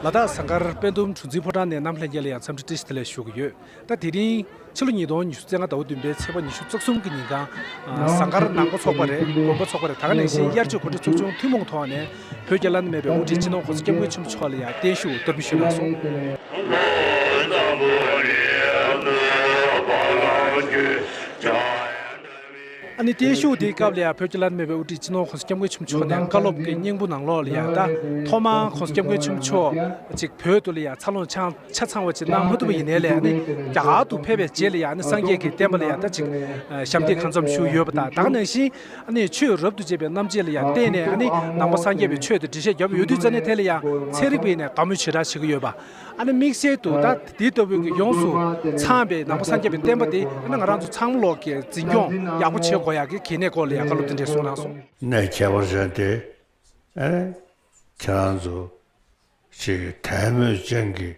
ལ་དྭགས་ཟངས་དཀར་དཔལ་སྡོམ་གྲུ་འཛིན་ཕོ་བྲང་ནས་གནམ་ལྷས་རྒྱལ་ལ་ཡང་འཚམས་འདྲི་བཀྲིས་བདེ་ལེགས་ཞུ་གི་ཡོད། ད་དེ་རིང། ཕྱི་ལོ་ཉིས་སྟོང་ཉི་ཤུ་ཚེས་ལྔ་ཟླ་བ་བདུན་པའི་ཚེས་པ་ཉི་ཤུ་རྩ་གསུམ་གྱི་ཉིན་གང། ཟངས་དཀར་ནང་མགོ་ཚོགས་པ་རེད་དགོན་མགོ་ཚོགས་པ་རེད་ད་ག་ནས་གཞན་དབྱར་ཆོས་གོ་སྒྲིག་ཚོགས་ཆུང་ཐུན་མོང་ཐོག་ནས་བོད་རྒྱ་བླ་ན་མེད་པའི་དབུ་ཁྲིད་སྤྱི་ནོར་གོ་ས་སྐྱབས་མགོན་ཆེན་པོ་མཆོག་ལ་ཡང་བརྟན་བཞུགས་གཏོར་འབུལ་ཞུས་གནང་སོང། ཨ་ནི་བརྟན་བཞུགས་དེའི་སྐབས་ལ་ཡང་བོད་ཀྱི་བླ་ན་མེད་པའི་དབུ་ཁྲིད་སྤྱི་ནོར་ཁོང་སྐྱབས་མགོན་ཆུ་མཆོག་ནས་བཀའ་སློབ་ཀྱི་སྙིང་པོ་ནང་ལོགས་ལ་ཡང་དང་ཐོག་མ་ཁོང་སྐྱབས་མགོན་ཆུ་མཆོག་ཅིག་བོད་དུ་ལ་ཡང་འཚར་ལོངས་ཆ་ཚང་བ་ཅིག་གནང་མ་ཐུབ་པ་ཡིན་ནའི་ལན་ནི་རྒྱ་གར་དུ་ཕེབས་པའི་རྗེས་ལ་ཡང་ནི་སངས་རྒྱས་ཀྱི་བསྟན་པ་ལ་ཡང་དག་ཅིག་ཞབས་འདེགས་གང་འཚམ་ཞུས་ཡོད་པ་དང་དག་ནང་བཞིན་ཨ་ནི་ཆོས་རབ་ཏུ་དཔྱད་པའི་རྣམ་དཔྱད་ལ་ཡང་བརྟེན་ནས་ཨ་ནི་ནང་པ་སངས་རྒྱས་པའི་ཆོས་དེ་འགྲེལ་བཤད་བརྒྱབ་ཡོད་དུས་རྩ་ནས་དེ་ལ་ཡང་ཚན་རིག་པས་ནས་དགའ་མོས་ཇི་ལྟར་བྱེད་ཀྱི་ཡོད་པ། ཨ་ནི་དམིགས་བསལ་དུ་ད་དེ་ལྟ་བུའི་གི་ཡོངས་སུ་ཚང་བའི་ནང་པ་སངས་རྒྱས་པའི་བསྟན་པ་དེ་ཨ་ནི་ང་རང་ཚོ་ཚང་མ་ལོག་གི་འཛིན་སྐྱོང་ཡག་པོ་བྱེད་དགོས་ཡག་གི་གི་ནས་སྐོར་ལ་ཡག་བཀའ་སློབ་དེ་འདྲས་གསུངས་གནང་སོང། ནས་ཁྱད་པར་ཅན་དེ་ཨེ་ཁྱེད་རང་ཚོ་ཆེ་གི་དད་མོས་ཅན་གི་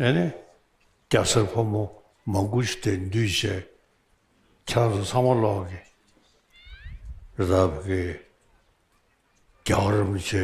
ཨེ་ནི་སྐྱ་སེར་ཕོ་མོ་མང་པོ་ཞིག་དེ་འདུས་བྱས་ཁྱེད་རང་ཚོ་ཚང་མ་ལོག་གི་རབ་གི་རྒྱ་གར་རིན་པོ་ཆེ་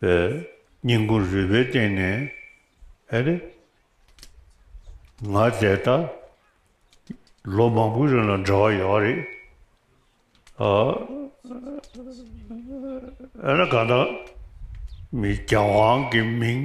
པའི་སྙིང་པོ་རུས་པའི་སྟེང་ནས་ཨེ་རེ། ང་འདས་ད་ལོ་མང་པོའི་རིང་ལ་འདྲ་བ་ཡོད་རེད། ཨ་ཨེ་ན་གང་ད་མི་རྒྱ་དབང་གི་མིང།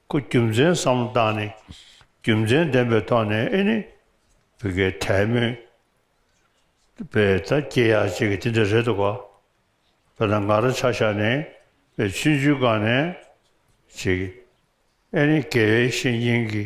སྐུ་རྒྱུ་མཚན་བསམ་བློ་བཏང་ནས་རྒྱུ་མཚན་ལྡན་པའི་ཐོག་ནས་ཨེ་ནི་བོད་སྐད་དད་མོས་པའི་ད་སྐྱེ་ཡག་ཅིག་གི་དེ་འདྲ་རེད་འདུག་བོད་ནང་ང་རང་ཆ་བཞག་ནས་བའི་ཆུ་འཇུ་སྒང་ནས་ཅིག་ཨེ་ནི་དགེ་བའི་བཤེས་གཉེན་གྱི་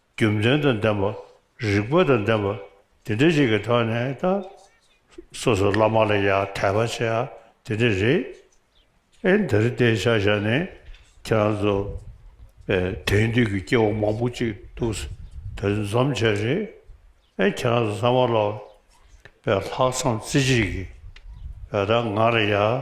རྒྱུ་མཚན་དང་ལྡན་པ། རིགས་པ་དང་ལྡན་པ། དེ་འདྲ་ཞིག་གི་ཐོག་ནས་ད། སོ་སོ་བླ་མ་ལ་ཡང་དད་པ་བྱེད་ཨ་དེ་འདྲ་རེད། ཨེ་འདིར་བལྟས་ཤག་ཤག་ནས་ཁྱེད་རང་ཚོ། དེང་དུས་ཀྱི་སྐྱེ་བོ་མང་པོ་ཅིག་འདུག་ཟེར་དོན་འཛོམས་བྱས་རེད། ཨེ་ཁྱེད་རང་ཚོ་ཚང་མ་ལ། ལྷག་བསམ་རྩེ་གཅིག་གིས། ད་ང་ལ་ཡང།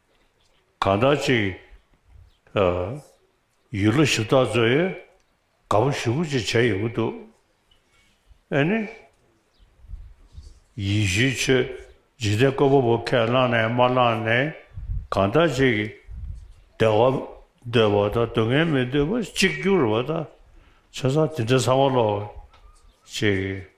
གང་འདྲ་ཅིག། ཡུལ་ལོ་ཞིབ་བཏགས་མཛོད་ཡོད། དགའ་བོ་བཞི་པོ་ཅིག་བྱས་ཡོང་གི་འདུག། ཨེ་ནི། ཡིད་བཞིན་ཆོས་འཇིག་རྟེན་བཀོད་པ་པོ་ཁས་བླངས་ནས་མ་བླངས་ནས་གང་འདྲ་ཅིག། བདེ་བ་འདོད་པ་དང་སྡུག་བསྔལ་མི་འདོད་པ་གཅིག་གྱུར་བ་དང། ཆ་ཚང་དེ་འདྲ་ཚང་མ་ལོག་ཅིག།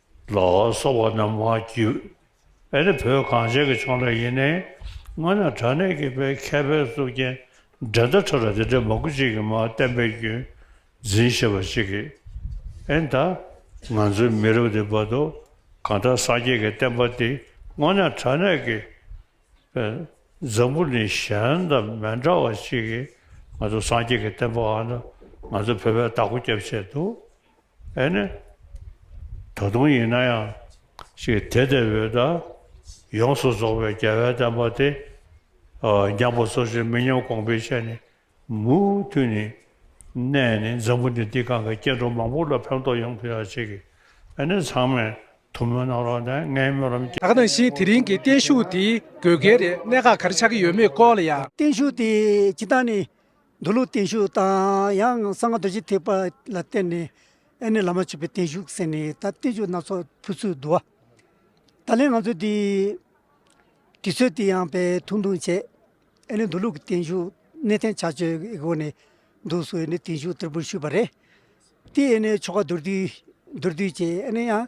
ལ་སོགས་པ་རྣམས་མ་བགྱིས། ཨེ་ནི་བོད་གངས་ཅན་གྱི་ཕྱོགས་འདྲ་ཡིན་ནའི། སྔོན་ན་དྲ་གནས་ཀྱི་པའི་མཁས་པའི་གཙུག་རྒྱན་འགྲན་ཟླ་ཁྲོད་ལ་དེ་འདྲའི་མ་གུ་གཅིག་གིས་མ་བསྟན་པའི་རྒྱུན་འཛིན་ཞེས་པ་ཅིག་གིས། ཨེ་ད། ང་ཚོའི་མི་རབས་འདི་བར་དུ་གང་དྲག་སངས་རྒྱས་ཀྱི་བསྟན་པ་འདི་སྔོན་ན་དྲ་གནས་ཀྱི་པའི་འཛམ་བུ་ནི་གཞན་དང་མི་འདྲ་བ་ཅིག་གིས་ང་ཚོ་སངས་རྒྱས་ཀྱི་བསྟན་པའང་ང་ཚོ་བོད་པའི་བདག་པོ་སྐྱབས་བྱས་འདུག། ཨེ་ནི། ད་དུང་ཡིན་ན་ཡང་ཞིག་དེ་ལྟ་བུའི་ད་ཡོངས་སུ་རྫོགས་པའི་རྒྱལ་བའི་བསྟན་པ་དེ་རྒྱངས་པ་སོ་སོའི་མི་ཉམས་དགོངས་པའི་ཆ་ནས་མུ་མཐུད་ནས་གནས་ནས་འཛམ་བུ་འདི་འདི་གང་གི་སྐྱེ་འགྲོ་མང་པོ་ལ་ཕན་ཐོགས་ཡོང་ཐུབ་ཡག་བྱེད་ཀྱི་ཨེ་ནི་ཚང་མས་ཐུགས་སྨོན་གནང་རོགས་དང་ངའི་སྨོན་ལམ་བསྐྱེད། ད་ནང་བཞིན་དེ་རིང་གི་བརྟན་བཞུགས་དེ་དགོས་གལ་རེད་གནད་འགག་ག་རེ་ཆགས་ཀྱི་ཡོད་མེད་སྐོར་ལ་ཡང། བརྟན་བཞུགས་དེ་སྤྱི་བཏང་ནས་མདོ་ལུགས་བརྟན་བཞུགས་དང་ཡང་གསང་རྡོ་རྗེ་ཐེག་པ་ལ་བརྟེན་ནས་ཨེ་ནི་བླ་མ་མཆོད་པའི་བརྟན་བཞུགས་ཟེར་ནས་ད་བརྟན་བཞུགས་སྣ་ཚོགས་ཕུལ་ཚུལ་བསྡུ་བ། ད་ལན་ང་ཚོས་དེའི་དུས་ཚོད་དེ་ཡང་བས་ཐུང་ཐུང་བྱས། ཨེ་ནི་མདོ་ལུགས་ཀྱི་བརྟན་བཞུགས་གནས་བརྟན་བྱ་སྤྱོད་ཀྱི་སྒོ་ནས་འདུག་སུ་ཨེ་ནི་བརྟན་བཞུགས་བསྟར་འབུལ་ཞུས་པ་རེད། དེ་ཨེ་ནི་ཆོ་ག་མདོར་བསྡུས་མདོར་བསྡུས་བྱས་ཨེ་ནི་ཡང་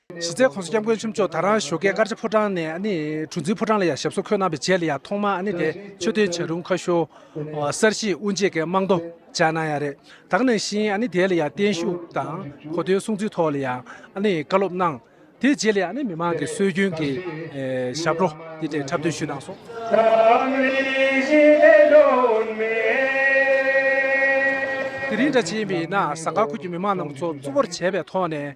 གཞི་རྩའི་ཁོངས་སུ་སྐྱབས་མགོན་ཆེན་མཆོག་དར་རང་ཞོ་ཀའི་དཀར་ཆ་ཕོ་བྲང་ནས་གྲུ་འཛིན་ཕོ་བྲང་ལ་ཡང་ཞབས་སོར་འཁོད་གནང་བའི་རྗེས་ལ་ཡང་ཐོག་མར་དེ་ཆོས་སྟོན་བྱ་རུང་ཁ་ཤོ་གསར་བཞེངས་དབུ་འབྱེད་ཀྱི་རྨང་རྡོ་བཅག་གནང་ཡང་རེད། དག་ནང་བཞིན་དེ་ལ་ཡང་བརྟན་བཞུགས་དང་གོ་སྟོན་གསུང་ཚིག་ཐོག་ལ་ཡང་བཀའ་སློབ་གནང། དེ་རྗེས་ལ་ཡང་མི་མང་གི་སྲོལ་རྒྱུན་གྱི་ཞབས་བྲོ་དེ་འཕྲལ་འཁྲབ་སྟོན་ཞུས་གནང་སོང། དེ་རིང་སྦྲ་ཆེན་པའི་ནང་ཟངས་དཀར་ཁུལ་གྱི་མི་མང་རྣམས་ཚོགས་གཙོ་བོར་བྱས་པའི་ཐོག་ནས